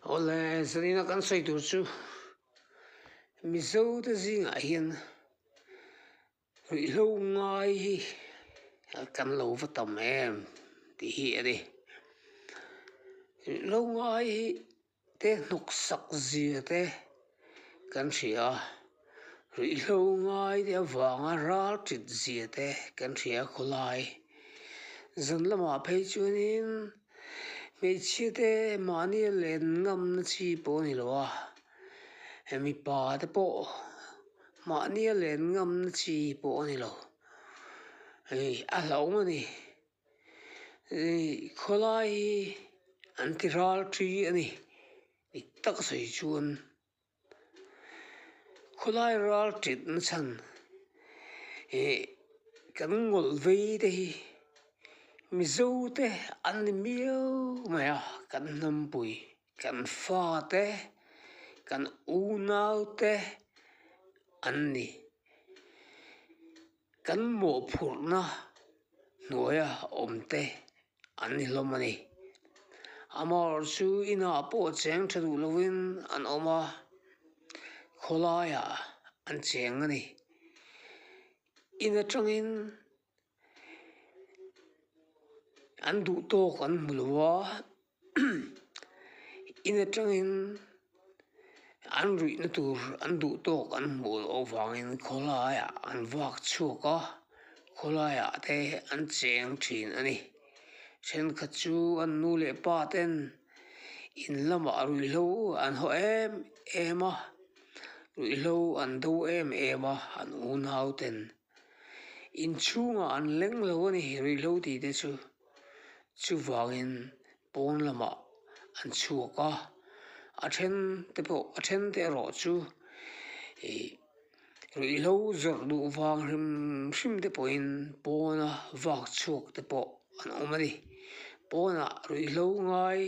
Awle Zarina kan sawi tur chu Mizote zingah hian ruihhlo ngai hi kan lo va tam em tih hi a ni. Ruihhlo ngai hi te hnawksak zia te kan hria. Ruihhlo ngai te avanga ralchit zia te kan hria khaw lai. Zan lamah phei chuanin hmeichhia te mahni a len ngamna chi pawh a ni lo a, hei mipa te pawh mahni a len ngamna chi pawh a ni lo. Hei a hlawm a ni. Hei khaw lai hi an ti ralṭhi a ni. Dik taka sawi chuan. Khawlai ralṭin na chhan hi kan ngawlh vei te hi Mizo te an ni miau mai a, kan hnampui, kan fa te, kan unau te an ni. Kan mawhphurhna hnuaia awmte an ni hlawm a ni. Amar chu inah pawh cheng tha duh lovin an awm a, khawlaiah an cheng a ni. In atangin an duhtawk an hmu lo a. in atangin an ruihna tur an duh tawk an hmuh loh vangin khawlaiah an vak chhuak a khawlaiah te an cheng thin a ni thenkhat chu an nu leh pa ten in lamah ruihhlo an haw em em a ruihhlo an do em em a an unauten. Inchhungah an leng lo a nih rih lo tih te chu chuvangin pawn lamah an chhuak a, a then te pawh a then te erawh chu ih rih lo zawrh duh vang hrim hrim te pawhin pawna vak chhuak te pawh an awm a ni pawnah rih lo ngai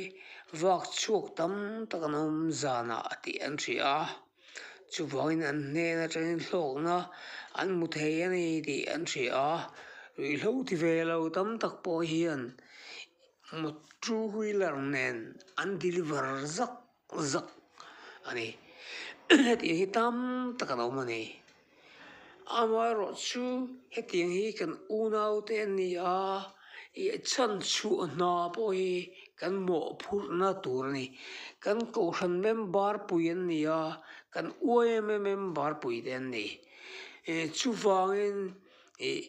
vak chhuak tam tak an awm zanah tih an hria. chuvangin an hnên aṭangin hlâwkna an hmu thei a ni tih an hria a ruihhlo ti ve lo tam tak pawh hian mawt ṭu wheeler nen an deliver zak zak a ni heti hi tam tak an awm a ni. Amaherawh chu hetiang hi kan unaute an ni a, i chhan chhuah hna pawh hi kan mawh phurhna tur a ni. Kan Kohhran memberpui an ni a, kan uaia memberpui te an ni. Chuvangin ih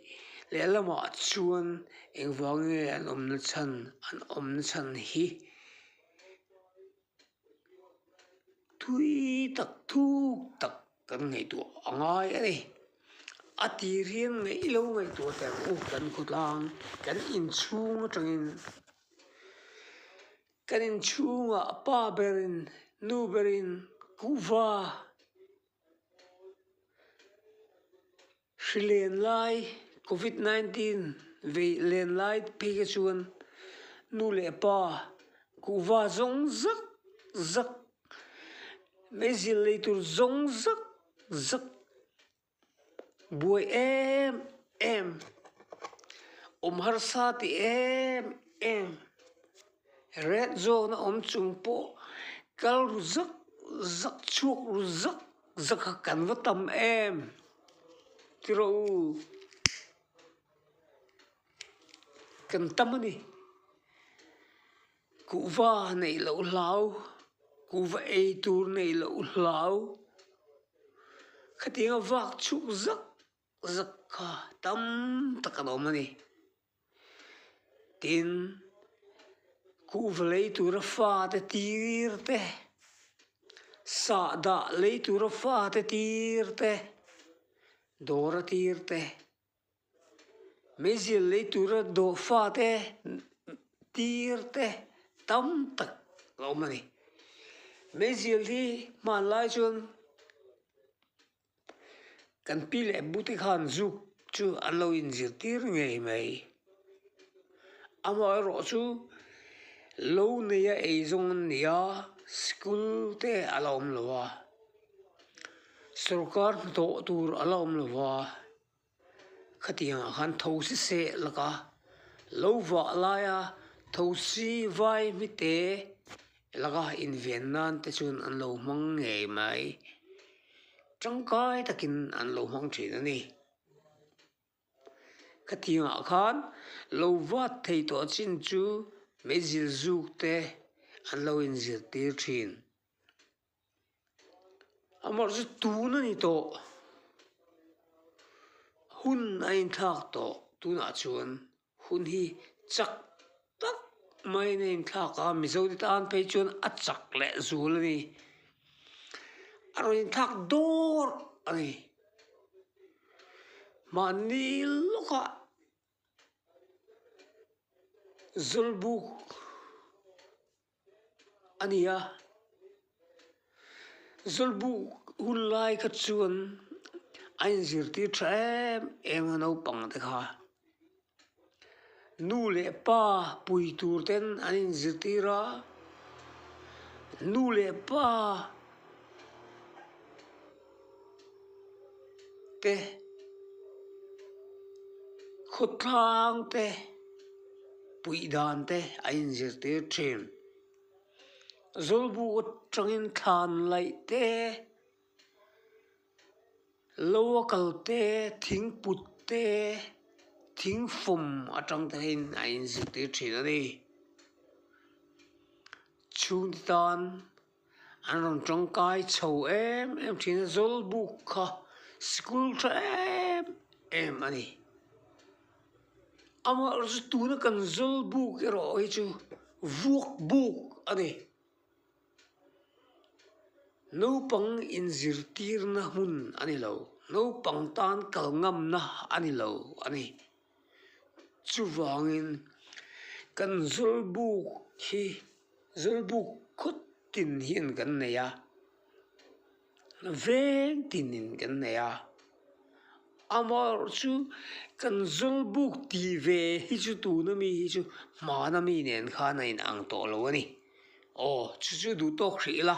lehlamah chuan engvang nge an awmna chhan, an awmna chhan hi? thui tak thuk tak kan ngaihtuah a ngai a ni a tir hi a ngaih lo ngaihtuah tel bawk kan khawtlang kan inchhung atangin kan inchhungah pa berin nu berin kuhva. Hri len lai, Covid nineteen veih len lai phei kha chuan nu leh pa, kuhva zawng zak zak, mei zil lei tur zawng zak zak buai em em, awm harsa ti em em, Ret zawk na awm chung pawh kal ru zak zak chhuak ru zak zak a kan va tam em tiro u kan tam a ni kuhva neih loh hlau kuhva ei tur neih loh hlau khatinga vak chuk zak. zak kha tam tak an awm a ni. Tin, kuhva lei tura fate tir te, sahdah lei tura fate tir te, dawra tir te, meizel lei tura daw fate tir te tam tak a awm a ni. Meizel hi hmanlai chuan-- Kan pi leh bu te khan zuk chu an lo in zir tir ngei mai amaherawh rawh chu lo nei a ei zawng an ni a school te a la awm lo va sawrkar hnathawh tur a la awm lo va. Khatiang ah khan thosi seh laka lo vah laia thosi vai hmite laka inven nan te chuan an lo hmang ngei mai tangkai takin an lo hmang thin a ni. Khatiang ah khan lo vat thei tawh chin chu mei zilzuk te an lo inzirtir thin. Amah chu tun a ni tawh, hun a inthlak tawh tunah chuan hun hi chak tak maiin a inthlak a, mizo te tan phei chuan a chak leh zul a ni, a rawn inthlak dawrh a ni, mahni lawkah. zawlbuk a ni a zawlbuk hun lai kha chuan a in zirtir tha em em a naupang te kha nu leh pa pui tur ten an in zirtir a nu leh pa te, khawtlang te, puih dan te a inzirtir thin. Zawlbu atangin thlan laih te, lo a kal te, thing put te, thing fawm atang te in a inzirtir thin a ni. Chhungte tan-- an rawn tawngkai chho em em thin a zawl buk kha sikul tha em em a ni amah zu tuna kan zawl buk erawh hi chu vuak buk a ni naupang in zirtirna hmun a ni lo naupang tan kal ngamna a ni lo a ni. Chuvangin, kan zawlbuk hi zawlbuk khawt in hian kan nei a, veng tin in kan nei a, amaherawhchu chu kan zawlbuk ti ve hi chu tuna mi hi chu hmana mi nen khan a in ang tawh lo a ni. Aw chu chu duh tawk hrih ila.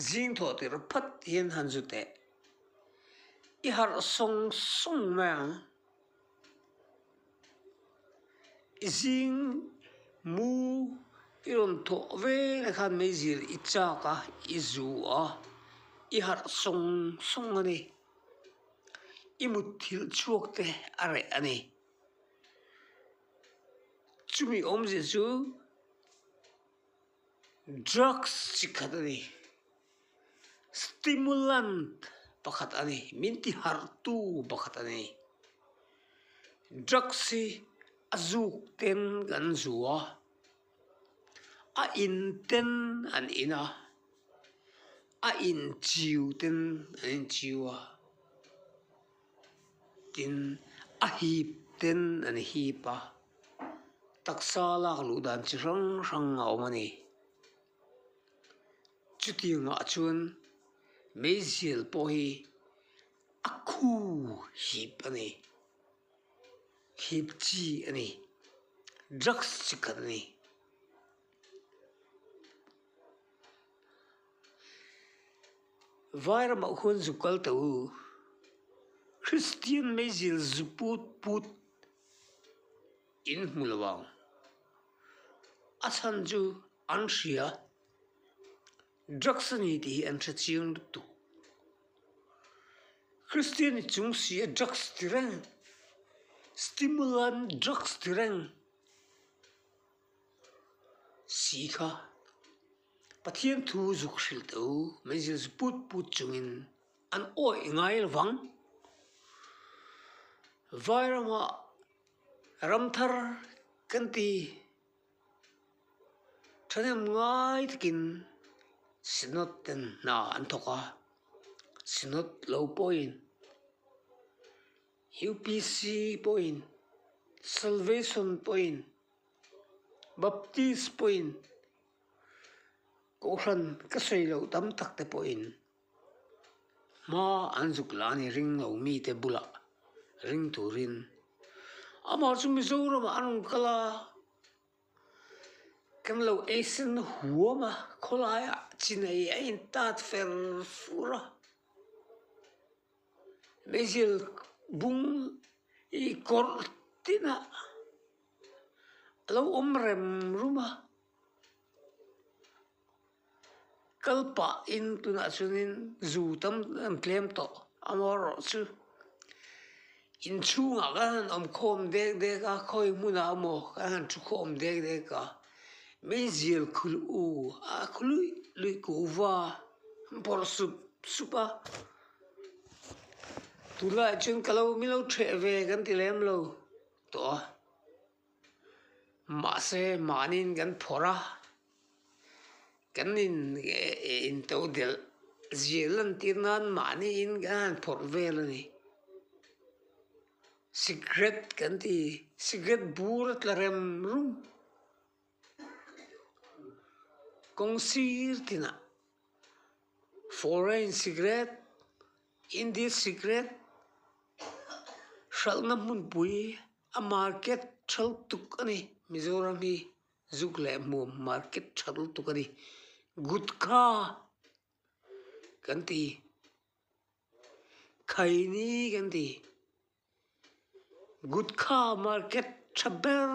Zing thawh tir phat hian han zu teh. I harh sawng sawng mai ang. I zing mu i rawn thawh vela khan mai zir i chak a, i zu a, i harh sawng sawng a ni. I mutthilh chhuak te a reh a ni. Chumi awmzia chu. Drugs chi khat a ni. Stimulant pakhat a ni. Min ti harh tu pakhat a ni. Drugs hi a zuk ten kan zu a, a in ten an in a, a in chiu ten an in chiu a. tin a hip ten an hip a taksa lak luh dan chi hrang hrang a awm a ni chutiangah chuan meizîal pawh hi a khu hip a ni hip chi a ni drugs chi khat a ni. Vai ramah khuan zuk kal teh u, Kristian meizil zu put put in hmu lo ang, a chhan chu an hria, drugs a ni tih hi an hre chiang lutuk. Kristian i chung si a drugs ti reng, stimulant drugs ti reng si kha Pathian thu zuk hril teh u, min zir zu put put chungin an awih ngai lo vang. Vai rama ram thar kan ti thahnem ngai takin Synod ten hna an thawk a, Synod lo pawhin, UPC pawhin, Salvation pawhin, Baptist pawhin, Kohhran ka sawi loh tam tak te pawhin hma an zuk la a ni, ring lo mite bulah ring turin. Amah chu Mizoramah a rawn kal a, kan lo eisen huam a, khawlaiah chinai a intat fer fur a. Meizil bung i kawr tina a lo awm rem rum a kal pah in tunah chuan in zu tam an tlem tawh a maw rawh chu inchhung ah khan an awm khawm dek dek a khawi hmun ah a maw kha han thu khawm dek dek a Meizil khul u a khawih luih kuh va bawrh sup sup a. Tunlaiah chuan ka lo milo ṭheh ve kan ti lem lo tawh a, mahse mahniin kan phawrh a, kan in in to delh zia lantir nan mahniin kan han phawrh vel a ni, cigarette kan ti cigarette bur a tla rem rum. Kawng sir tinah foreign cigarette Indian cigarette hralhna hmunpui a market tha lutuk a ni Mizoram hi zuk leh hmuam market tha lutuk a ni gutka kan ti khaini kan ti. Gutka market tha ber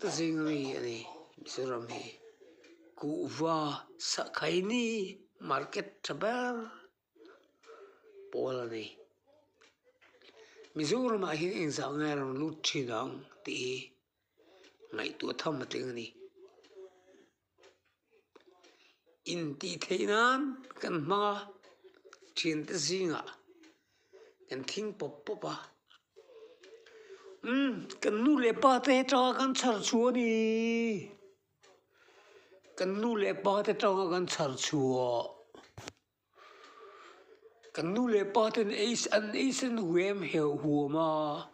te zing mi a ni Mizoram hi kuhva sahkhaini market tha ber pawl a ni Mizoramah hian eng zah ngai a rawn lut thin ang tih hi ngaihtuah tham a tling a ni. intih theih nan kan hmang a thiante zingah kan thing pawp pawp a umm kan nu leh pa te atanga kan chhar chhuah a ni kan nu leh pa te atanga kan chhar chhuah. Kan nu leh pa ten an eisen huem heuh huam a,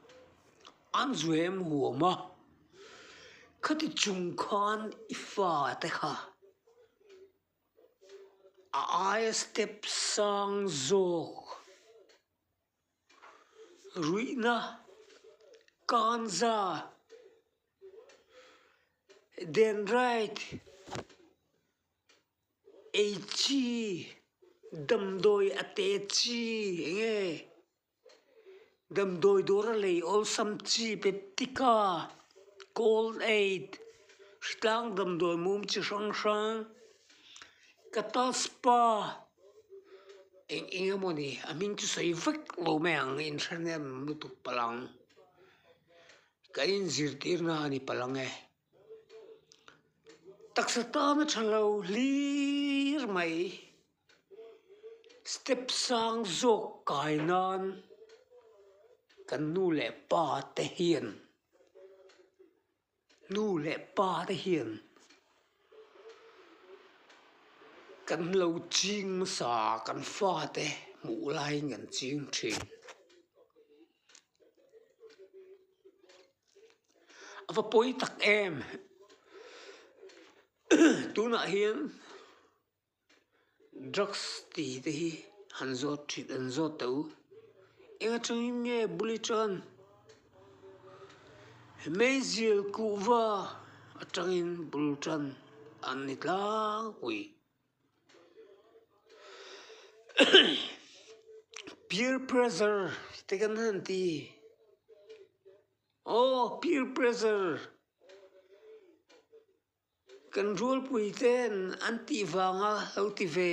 an zuem huam a, khati chung khan i fate kha a aia step sang zawk ruihna kanza den right. Ei chi? Damdawi a te chi enge? Damdawi dawr a lei awlsam chi peptik a, Call aid, hrithlang damdawi mum chi hrang hrang, Cattle spa, eng eng emaw ni, a hming chu sawi vek lo mai ang, in hre nem lutuk palang, kan inzirtirna a ni palang e. taksa tana tha lo hlir mai step sang zawk kai nan kan nu leh pa te hian nu leh pa te hian kan lo ching nasa kan fate hmuh lai in kan ching thin. A va pawi tak em! Tunah hian drugs ti te hi han zawt thin han zawt teh u, eng atangin nge bul aṭang? Meizil kuhva aṭangin bul ṭan an ni tlangpui. peer pressure te kan han ti aw peer pressure kan rualpui ten an tih vang a lo ti ve.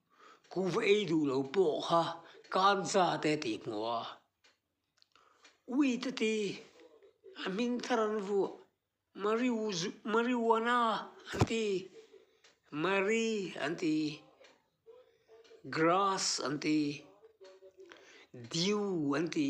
Ku va ei duh lo pawh kha kan za teh tih hmu a. U Itati a hming thar an vuah, Marijuana an ti, Mari an ti, Grass an ti, Dew an ti.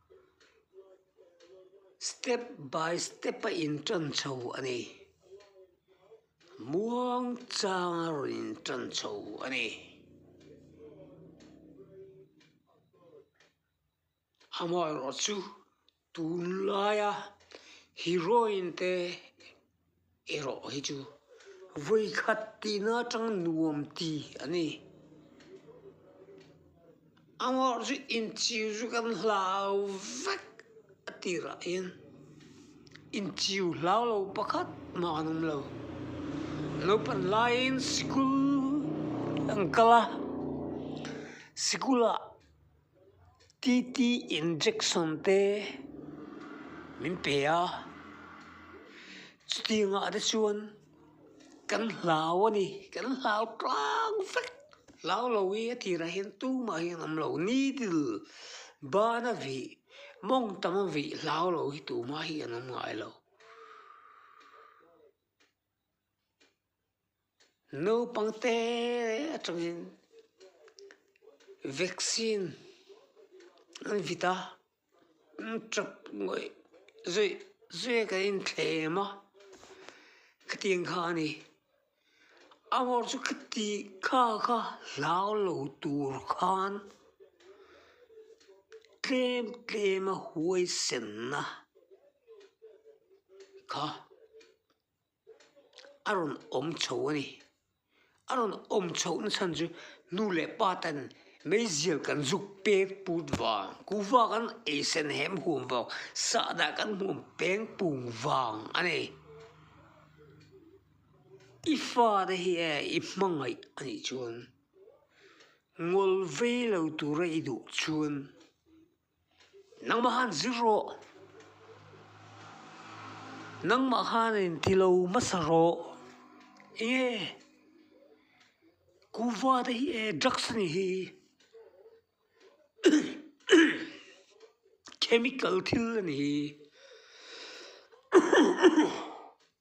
step by step a in ṭan chho a ni muang chang a rawn in ṭan chho a ni amah erawh chu tunlai a heroine te-- Erawh hi chu vawikhat tihna atang nuam ti a ni. Amarawh chu inchiu chu kan hlau vek a tirah hian inchiu hlau lo pakhat mah an awm lo. Naupang laiin sikul an kal a, sikul ah-- TT injection te min pe a, chuti ang ah te chuan kan hlau a ni, kan hlau tlang vek, hlau lo hi a tir ah hian tum ah hian awm lo needle ban a vih mawng tam a vih hlau lo hi tumah hi an awm ngah lo. Naupangte atangin vaccine an vit a an tap ngawih zawih zawih a kan inthlem a khati ang kha a ni a hmawr chu khati kha kha hlau lo tur khan tlem tlem a huaisen na kha. a rawn awm chho a ni a rawn awm chho nasan chu nu leh pa ten meizia kan zuk pek put vang kuhva kan ei sen hem hum vang sahdah kan hum peng pung vang a ni i fate hi e i hmangaih a nih chuan ngawlvei lo tura i duh chuan. Nangmah khan zir rawh. Nangmah khanin ti lo hmasa rawh. Enge kuva te hi e drugs a nih hi. Chemical thil a nih hi.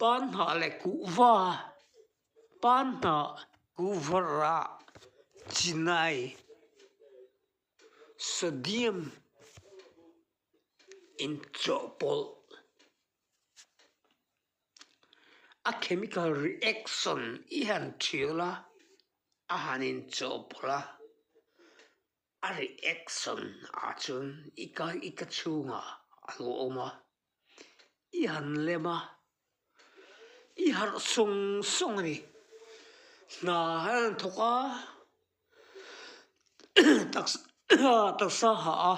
Pan hnah leh kuhva, pan hnah kuhvarah chinai. Sodium inchawhpawlh a chemical reaction i han thial a, a han inchawhpawlh a, a reaction ah chuan i ka i ka chhungah a lo awm a. i han lem a, i harh sawng sawng a ni, hna hi an thawk a taksa a hah a,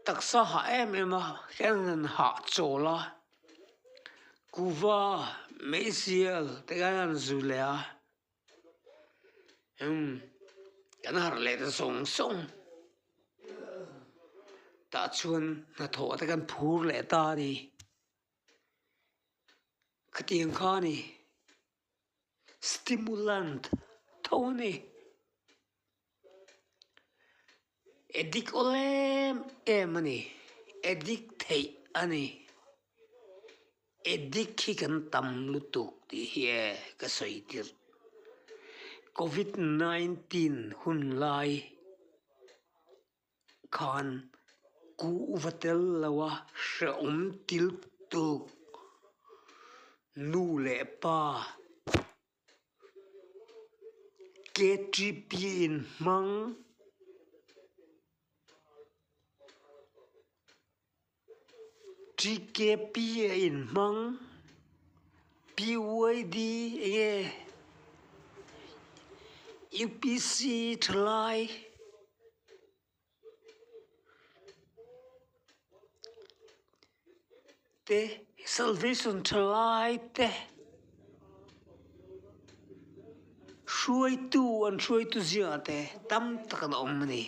taksa a hah em em a khian an han hah chawl a, kuva meizial te hian an zui leh a. umm kan harh leh ta zawng zawng tah chuan hnathawh te kan phur leh ta a ni khatiang kha a ni stimulant tho a ni. e dik awlh em em a ni e dik theih a ni e dik hi kan tam lutuk tih hi e ka sawi tirh covid nineteen hun lai khan kuh va tel lo a hrehawm til tuk nu leh pa -- KTP in hmang TKP a in hmang PYD nge UPC thalai te salvation tha lai te hruaitu an hruaitu zia te tam tak an awm a ni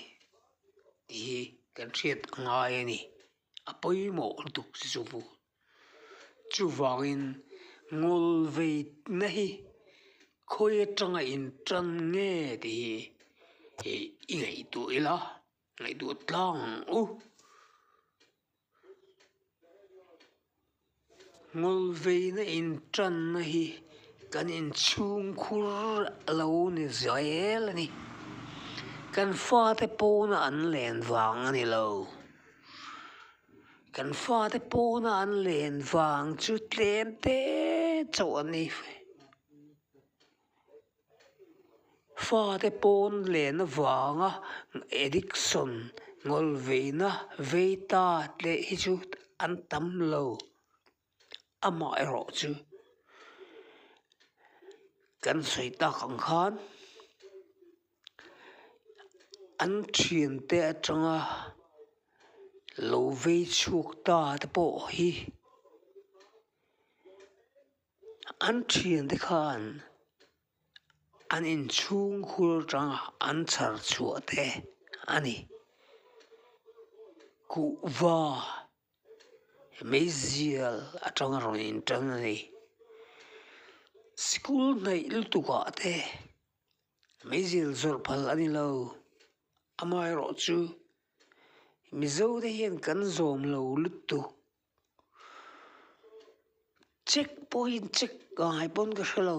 tih hi kan hriat ngai a ni a pawimawh lutuk chu-- Chuvangin, ngawl veitna hi khawi atanga inṭan nge tih hi i ngaihtuah ila, ngaihtuah tlang u. Ngawl veina inṭanna hi kan inchhungkhur a lo ni zel a ni. Kan fate pawna an len vang a ni lo. Kan fate pawna an len vang chu tlem te chauh a ni. Fate pawn lehna vanga addiction ngawlveina vei ta tleh hi chu an tam lo. amaherawh chu kan sawi tak ang khan an thian te atanga lo vei chhuak ta te pawh hi an thian te khan an inchhungkhur atanga an chhar chhuah te a ni kuhva. Meizial atanga rawn inṭan a ni school hnaih lutukah te meizial zawrh phal a ni lo amaherawh chu mizote hian kan zawmlo lutuk. Check point check ngai pawn ka hre lo,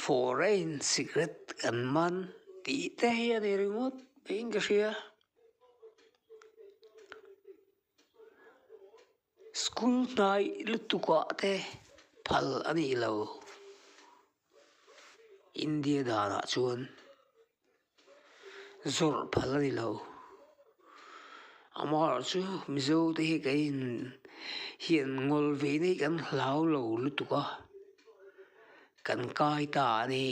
foreign cigarette kan man tih te hi a ni ringawt mai in ka hria, school hnai lutuk ah te phal a nih lo. India danah chuan zawrh phal a ni lo a mahlah chu mizo te hi kan in hian ngawl ve ni kan hlau lo lutuk a kan kai ta a ni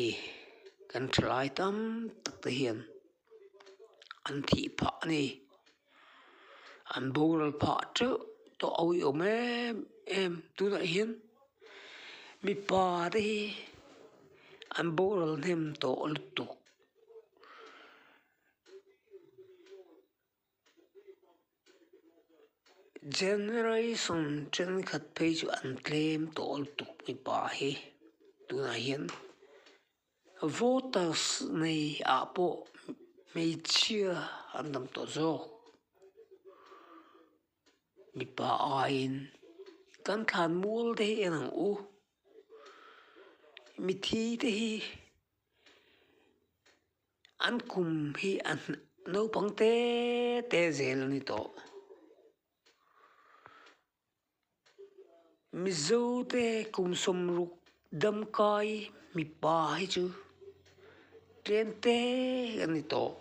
kan thalai tam tak te hian. an thih phah a ni an boral phah teuh tawh a awih awm em em tunah hian mipa te hi an boral hnem tawh lutuk. Generation thenkhat phei chu an claim tawh lutuk mipa hi tunah hian voters nei ah pawh hmeichhia an tam tawh zawk mipa aiin kan thlan mual te hi en ang u mithi te hi-- An kum hi a naupang te te zel a ni tawh Mizo te kum sawmruk dam kai mipa hi chu tlem te a ni tawh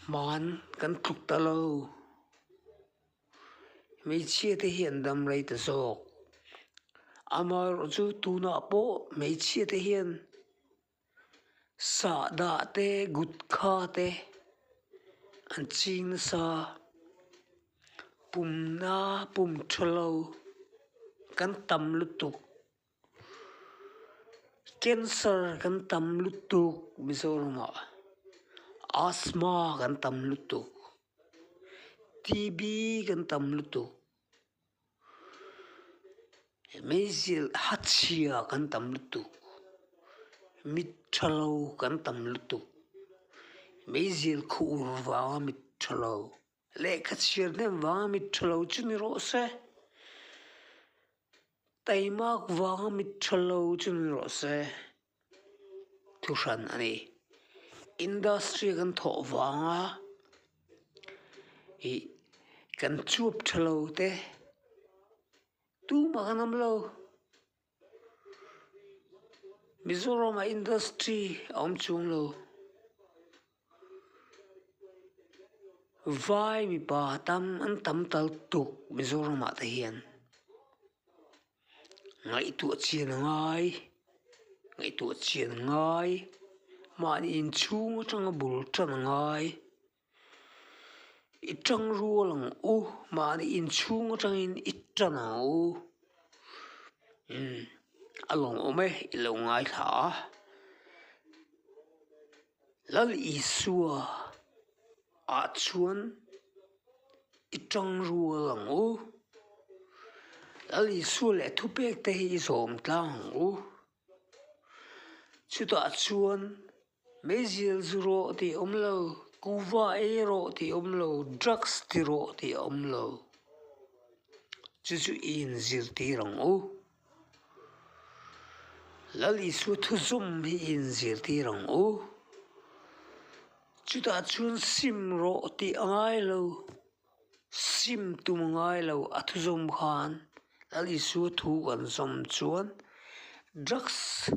hmaan kan tluk ta lo. hmeichhia te hian damrei ta zawk ama erawh chu tunah pawh hmeichhia te hian sahdah te gutka te an ching nasa pumna pum thalo kan tam lutuk. Cancer kan tam lutuk Mizorama Asthma kan tam lutuk TB kan tam lutuk Measle hachhia kan tam lutuk mit tha lo kan tam lutuk Measle khuh ur vanga mit tha lo. Lehkha chhiar hnem vanga mit tha lo chu ni rawh se, taimak vanga mit tha lo chu ni rawh se, thu hran a ni. Industry kan thawh vanga ih kan chuap tha lo te, tumah kan awm lo. Mizoram ah industry a awm chhung lo vai mipa tam an tam tal tuk Mizoram ah te hian ngaihtuah chian a ngai ngaihtuah chian a ngai mahni inchhung atanga bul tan a ngai. I ṭang rual ang u, mahni inchhung aṭangin i ṭan ang u, a lawmawm e i lo ngaithla a, Lal Isua ah chuan i ṭang rual ang u, Lal Isua leh thupekte hi i zawm tlang ang u, chutah chuan. Meizil zu rawh tih awm lo, kuva ei rawh tih awm lo, drugs ti rawh tih a awm lo, chu chu i inzirtir ang u, Lal i chu thu zawm hi i inzirtir ang u, chutah chuan sim rawh tih a ngai lo, sim tum a ngai lo, a thu zawm khan Lal i chu thu kan zawm chuan drugs.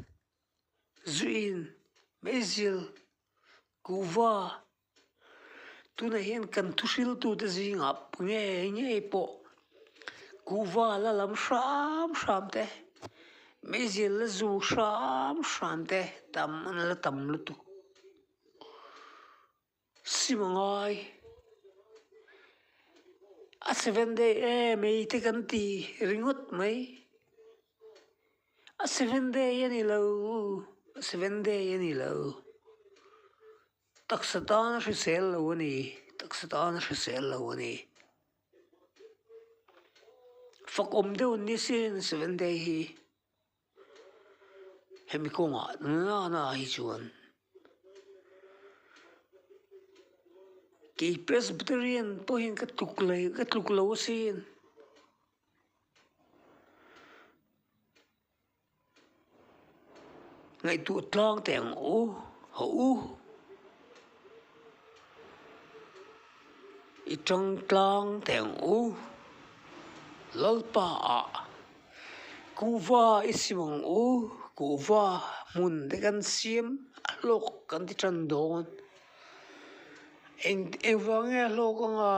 zuiin meizil kuhva tunah hian kan thu hril tute zingah nge ngei pawh kuhva la lam hram hram te meizil la zu hram hram te tam an la tam lutuk. Simangai a seven day e mei te kan ti ringawt mai a seven day a ni lo a seven day a ni lo taksa tan a hrisel lo a ni taksa tan a hrisel lo a ni fakawm deuh nisin seven day hi. hemi kawngah nana hi chuan kei presbyterian pawhin ka tluk leh ka tluk lo a si a ni. Ngaihtuah tlâng teh ang u haw u. I tangtlang teng u Lalpa a, kuhva i sim ang u, kuhva hmun te kan siam a hlawk kan ti tan dawn, eng engvang nge a hlawk anga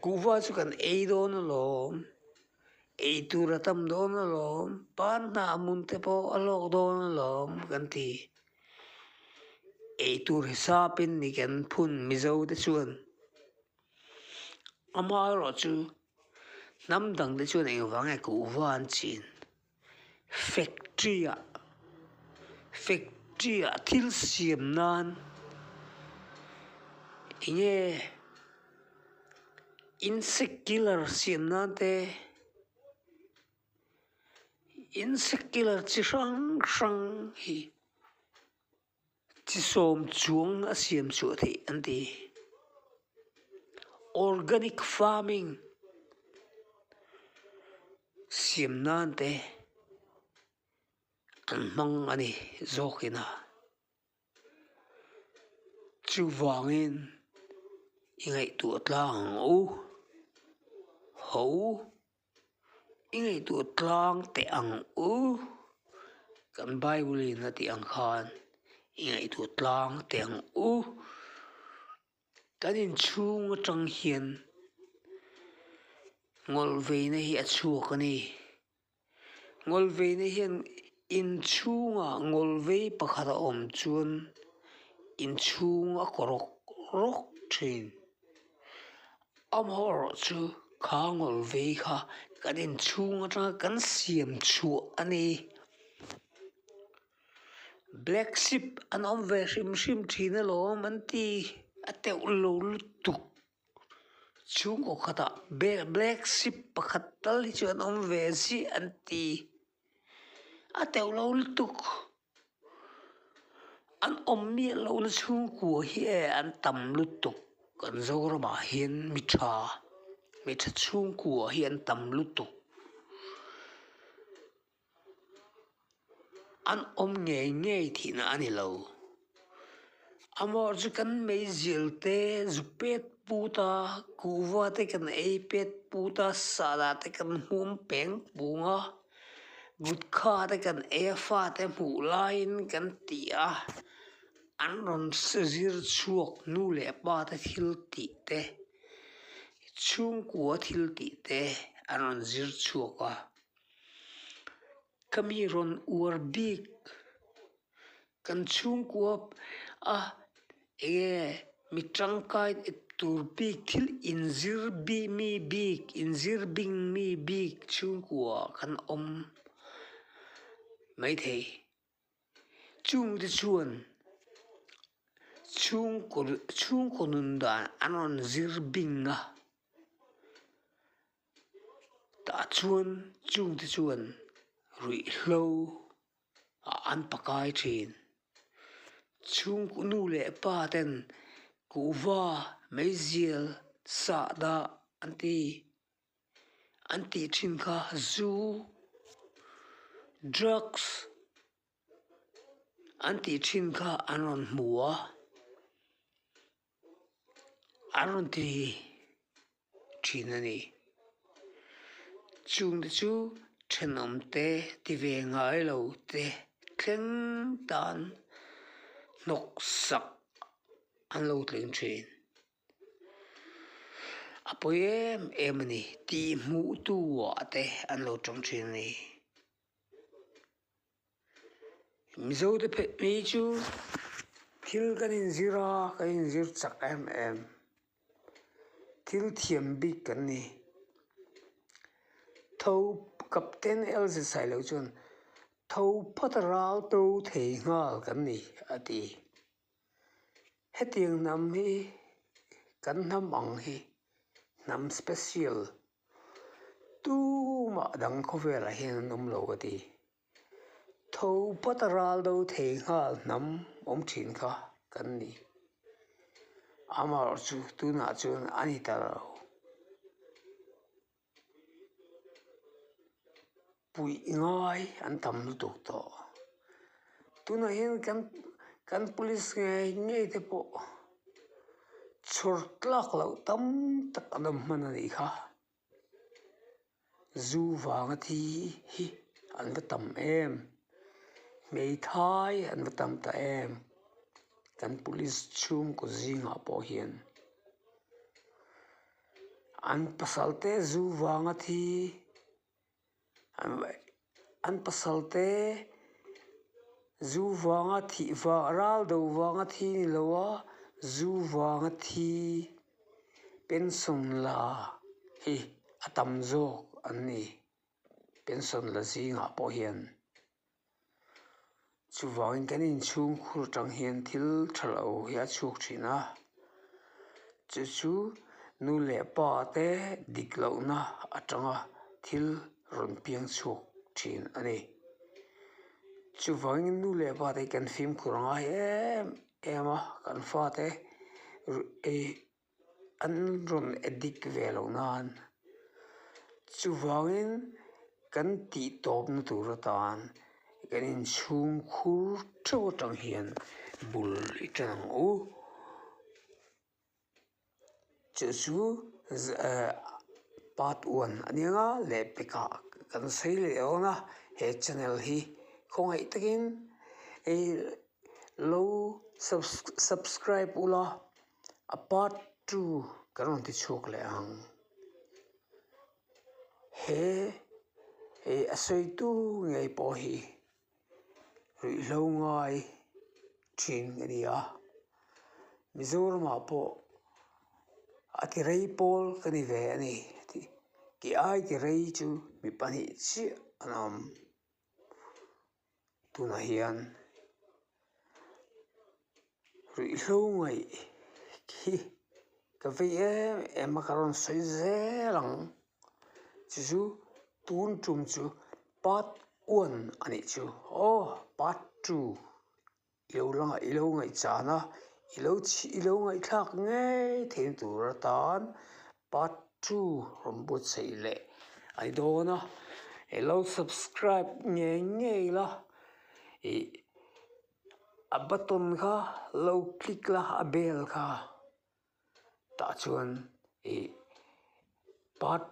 kuhva chu kan ei dawn alawm, ei tur a tam dawn alawm, pan hna hmun te pawh a hlawk dawn alawm kan ti. eitur hisapin ni kan phun mizo te chuan ama erawh chu hnam dang te chuan eng vang nge kuhva an chhin factory ah factory ah thil siam nan eng nge insect killer siam nan te. in secular chi hrang hrang hi chi sawm chuang a siam chuah theih an ti organic farming siam nan te an hmang a ni zawk ina chuvangin i ngaihtuah tlang ang u ho. I ngaihtuah tlang teh ang u, kan Bible in a tih ang khan i ngaihtuah tlang teh ang u. Kan inchhung atang hian ngawl veina hi a chhuak a ni. Ngawl veina hian inchhungah ngawl vei pakhat a awm chuan inchhung a kaw rawk rawk thin. Amaherawh chu kha ngawlh vei kha kan inchhung atanga kan siam chhuah a ni. Black sheep an awm ve hrim hrim thin alawm an ti a teuh lo lutuk chhungkaw khatah black sheep pakhat tal hi chu an awm ve ziah an ti. a teuh lo lutuk an awm miah loh na chhungkua hi e an tam lutuk kan zoram ah hian mi tha mi tha chhungkua hi an tam lutuk an awm ngei ngei thin a ni lo. Amah chu kan meizir te zuk pet put a kuhva te kan ei pet put a sana te kan hum peng pung a gutka te kan ei a fa te hmuh laiin kan ti a an rawn se zir chhuak nu leh pa te thil tih te chhungkua thil tih te an rawn zir chhuak a. Ka mi rawn uar bik kan chhungkuap a enge mi tangkai tur bik thil inzir bik mi bik inzir bik mi bik chhungkua kan awm maithei. Chungte chuan chhungkaw chhungkaw nun dan a rawn zir bing a, tah chuan chungte chuan ruihhlo ah an pakai thin, chhung nu leh pa ten kuhva meizial sahdah an ti. an tih thin kha zu drugs an tih thin kha an rawn hmu a an rawn ti thin a ni chungte chu thenawmte ti ve ngailo te thleng tan hnawk sak an lo tling thin. A pawi em em a ni tih hmuh tuah te an lo tawng thin a ni mizo te phet hi chu thil kan inzir a kan inzir chak em em thil thiam bik kan ni tho kapten elzet sai loh chuan tho phata rau to thei nghal kan ni a ti. Hetiang hnam hi kan hnam ang hi hnam special tumah dang khawvelah hian an awmlo a ti tho pata ral do thei nghal hnam awm thin kha kan ni amarawhchu tunah chuan ani ta lo. puih ngai an tam lutuk tawh tunah hian kan kan police ngai ngei te pawh chhawr tlak loh tam tak an awm hman a nih kha zu vanga thi hi an va tam em hmeithai an va tam ta em kan police chhungkaw zingah pawh hian. An pasalte zu vanga thi an pasalte zu vanga thih vah ral do vanga thi ni lo a zu vanga thi pension la hi a tam zawk an ni pension la zingah pawh hian. Chuvangin kan inchhungkhur atang hian thil tha loh hi a chhuk thin a chu chu nu leh pa te dik lohna atanga thil rawn piang chhuak thin a ni chuvangin nu leh pa te hian kan fimkhur a ngai em em a kan fate ru ih-- an rawn dik ve loh nan chuvangin kan tih tawpna tur atan kan inchhung khur theuh atang hian bul i tan ang u chu chu eh part one a nia nga leh peka kan sawi leh ang a he channel hi khawngaih takin lo subscribe ula. A part two ka rawn ti chhuak leh ang he he a sawitu ngei pawh hi ruihhlo ngai thin a ni a mizoramah pawh a ti rei pawl ka ni ve a ni ti ai ti rei chu mi pahnih chiah an awm. tunah hian ruihhlu ngaih hi ka vei em em a ka rawn sawi zel ang chu chu tun tum chu part one a nih chu aww part two . I lo langa i lo ngaihchana i lo chhih i lo ngaihthlak ngei theiin tur atan part two rawmbutsaih leh a ni dawn a i lo subscribe ngei ngei la ih a button kha lo click la a bell kha tah chuan ih part --